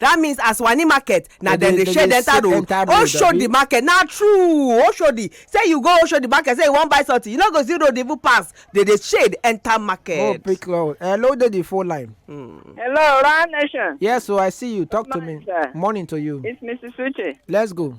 that means as wani market na dem dey shade enter road oshodi market na true oshodi say you go oshodi market say you wan buy something you no go see road even pass dey dey shade enter market. oh pick road hello dey the phone line. Hmm. hello round nation. yes o i see you talk to me morning to you. it's mrs uche. let's go.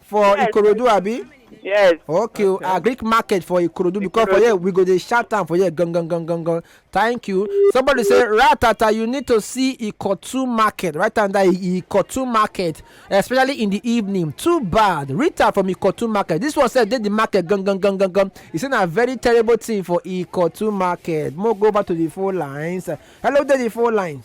for yes. ikorodu abi yes okay o okay. greek market for ikorodu because for here we go dey shout am for here gangan gangan gan thank you somebody say ratata you need to see ikotu market right under ikotu market especially in the evening too bad rita from ikotu market this one sef dey the market gangan gangan gan e say na very terrible thing for ikotu market mo go back to the phone lines hello dey the phone lines.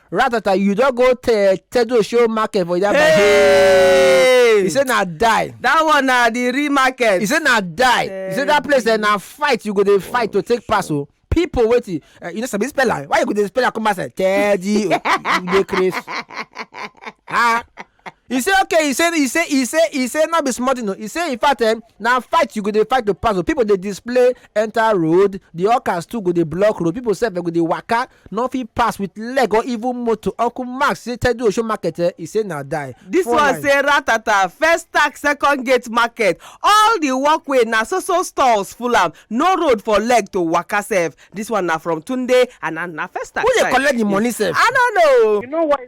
ratata you don go te tedo show market for yaba hey! he say na die that one na the real market he say na die hey. he say that place eh, na fight you go dey fight to take pass o oh. people wetin uh, you no sabi spell am why you go dey spell am come outside teddy you dey craze ah e say okay e say e say e say e say no be small thing o e say in fact eh, na fight you go dey fight to pass o people dey display enter road the hawkers too go dey block road people sef eh, go dey waka no fit pass with leg or even motor uncle mark say tedu osho market eh, e say na die. this Four one line. say ratata first tax second gate market all the walkway na so so stalls full am no road for leg to waka sef this one na from tunde and na na first tax who dey side. collect the money sef. i no know. You know why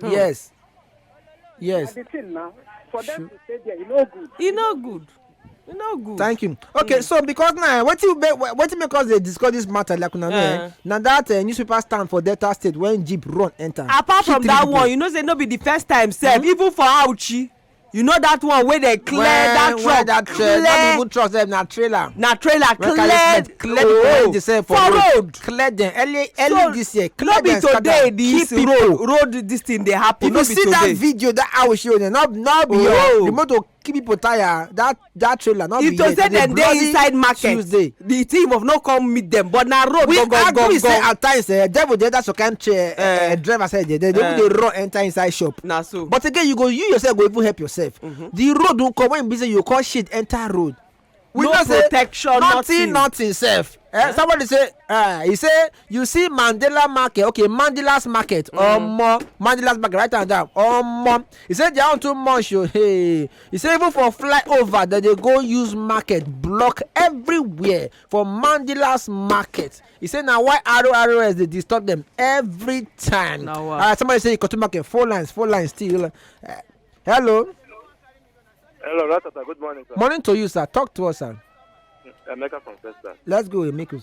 Hmm. Yes. Yes. The thing now, for them to stay there, e no good. E no good. E no good. Thank you. Okay, mm. so because now, what you what you make us dey discuss this matter like una know, eh? eh. na that uh, newspaper stand for Delta State when jeep run enter. Apart from that people. one, you know say no be the first time sef, mm -hmm. even for Auchi. you know that one wey dey clear when, that truck when that, uh, clear not even truck sef na trailer na trailer clear clear oh, the same for, for road. road clear them early early so, this year clear them scatter no be today this road road this thing dey happen if no be today if you see that video that i will show you no no be oh. your the motor keep people tire that that trailer not if to say dem dey inside market tuesday the thief of no come meet them. but na road go go go go we agree say at times eh, devil dey enter some kind chair eh, eh, eh. driver side there they dey eh. run enter inside shop na so but again you go you yourself go even help yourself mm-hmm. the road don come when be say you come shit enter road we no protection nothing nothing sef eh, somebody say uh, he say you see mandela market okay mandela's market mm. omo mandela's market write am down omo he say their own too much o oh, hey he say even for flyover dem dey go use market block everywhere for mandela's market he say na why rors dey disturb dem every time alright somebody say ikotu market four lines four lines still uh, hello. hello ratata good morning sir. morning to you sir talk to us sir. emeka from first sir. let's go emeka.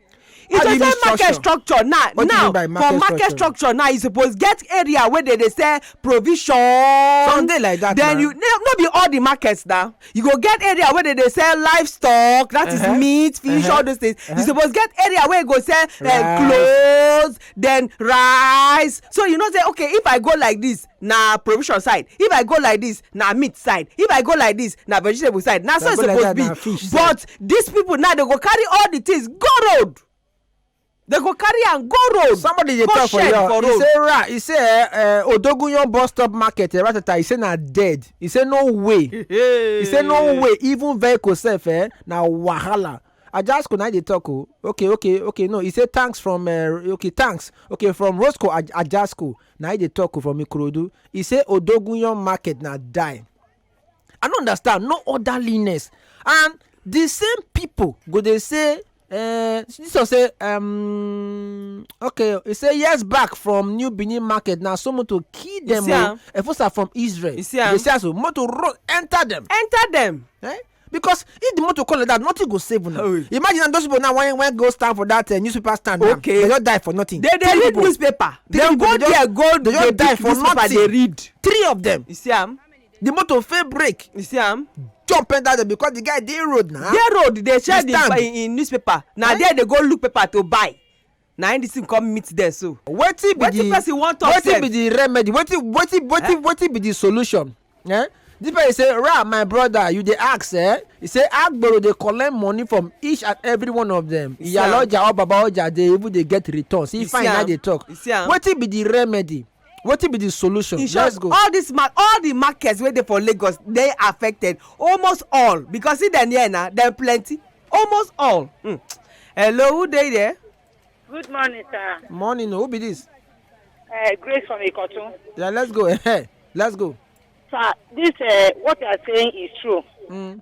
e just say market structure now now for market structure now you suppose get area wey dey dey sell provision something like that then you no be all the markets na you go get area wey dey dey sell livestock that is uh-huh. meat fish uh-huh. all those things you uh-huh. suppose get area wey go sell eh, clothes then rice so you know say okay if i go like this na provision side if i go like this na meat side if i go like this na vegetable side na so e suppose be but these people now they go carry all the things go road they go carry am go road somebody dey talk for your he say ra he say eh, eh, odogunyan bus stop market eh, ratata he say na dead he say no way he say no way even vehicle sef eh, na wahala Ajasco na dey talk o. Okay okay okay no e say thanks from uh, okay thanks okay from Roscoe Aj Ajasco na he dey talk o from Ikorodu. He say Odogunyan market na die. I no understand no orderliness and the same people go dey say uh, this one say um, okay he say years back from New Benin market na so motor kill them see o. am? Efosa from Israel. You see am? They say so motor run enter them. enter dem Eh? because if the motor come like that nothing go save una oh. imagine na those people now wan wan go stand for that uh, newspaper stand now okay. they just die for nothing they dey read newspaper they go there go they just die for nothing they read three of them you see am the motor fail brake you see am jump enter there because the guy dey road na dey road dey share the in newspaper na eh? there dey go look paper to buy na im this thing come meet them so. wetin be the wetin person wan talk sef wetin be the remedy wetin wetin wetin eh? wetin be the solution eh? this person say ra my brother you dey ask eh? he say agboro dey collect money from each and every one of them iyaloja or babaoja dey even dey get returns he fine na dey talk wetin be the remedy wetin be the solution in short let's go all this ma all the markets wey dey for lagos dey affected almost all because see dem here na dem plenty almost all mm. hello who dey there. good morning sir. morning who be this. Uh, grace from ikotun. yeah let's go let's go. sir this uh, what you are saying is true. Mm.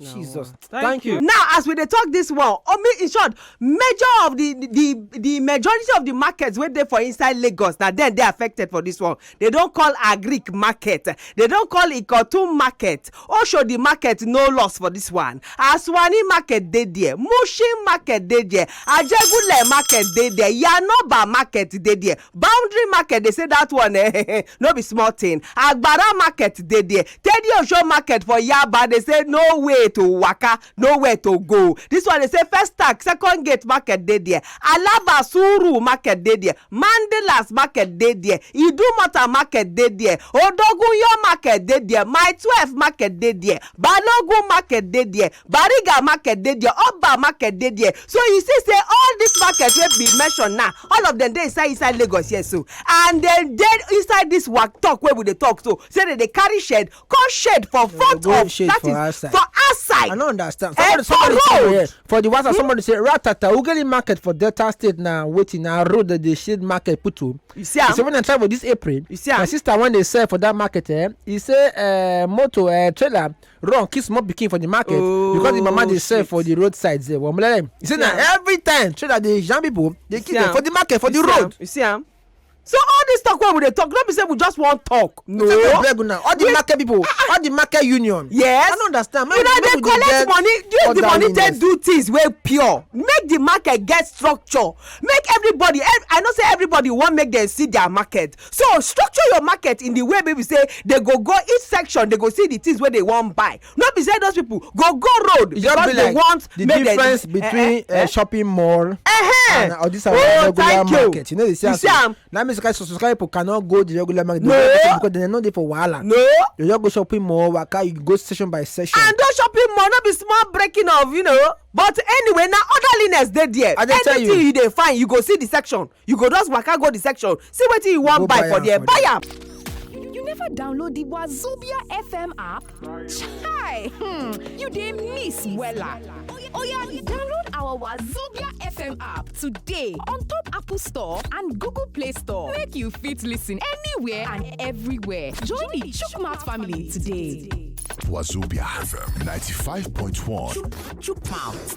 Jesus. Thank, Thank you. you. Now, as we dey talk this one, I mean, in short, major of the the the majority of the markets wey dey for inside Lagos na then they affected for this one. They don't call Agric market. They don't call Ikotun market. Oshodi market no loss for this one. Aswani market dey there. Mushin market dey there. Ajegule market dey there. Yanoba market dey there. boundary market dey say that one eh, no be small thing agbara market dey there teddy osho market for yaba dey say no way to waka nowhere to go this one dey say first tank second gate market dey there alaba suru market dey there mandelas market dey there idumota market dey there odogunyo market dey there my twelve market dey there balogun market dey there Bariga market dey there, Oba market dey there. So you see say all these markets wey be mentioned now, all of them dey inside inside Lagos here so. And dem dey inside this work talk wey we dey talk so. Say dem dey carry shed, come shed for front of that shed for outside. for outside. I no understand. Eh, Somebody, for somebody say road. here for the WhatsApp, somebody say ratata ugeli market for Delta State na wetin na road that dey shade market put o. You see He am? say when I travel this April, You see my am? sister when dey sell for that market eh, he say uh, motor uh, trailer run kiss small pikin for the market oh, because the mama dey sell for the road side there well mulele you see na every time trader dey jam people dey kill them for the market for the road. you see am so all this talk wey we dey talk no be say we just wan talk no we dey beg una all the market people ah, ah. all the market union yes i no understand make we dey collect money use the money take do things wey pure make the market get structure make everybody i know say everybody wan make dem see their market So structure your market in the way wey be say they go go each section, they go see the things wey they wan buy. No be say those people go go road e because be they like want the make difference they, between eh, eh, eh, eh. shopping mall uh -huh. and all this our oh, regular market. You know they say you see, um, now means so some people cannot go the regular market. No, because they no dey for wahala. No, you just go shopping mall, waka, you go session by session. And those shopping mall no be small breaking of you know. But anyway, now orderliness dey there. I dey tell you, anything you dey find, you go see the section. you go just waka go the section see wetin you wan buy for there buy am you never download the wazobia fm app chai hmm you dey miss wella oya download our wazobia fm app today on top apple store and google play store make you fit listen anywhere and everywhere join the chukwumouth family today. Wazobia FM 95.1. Chukwumouth.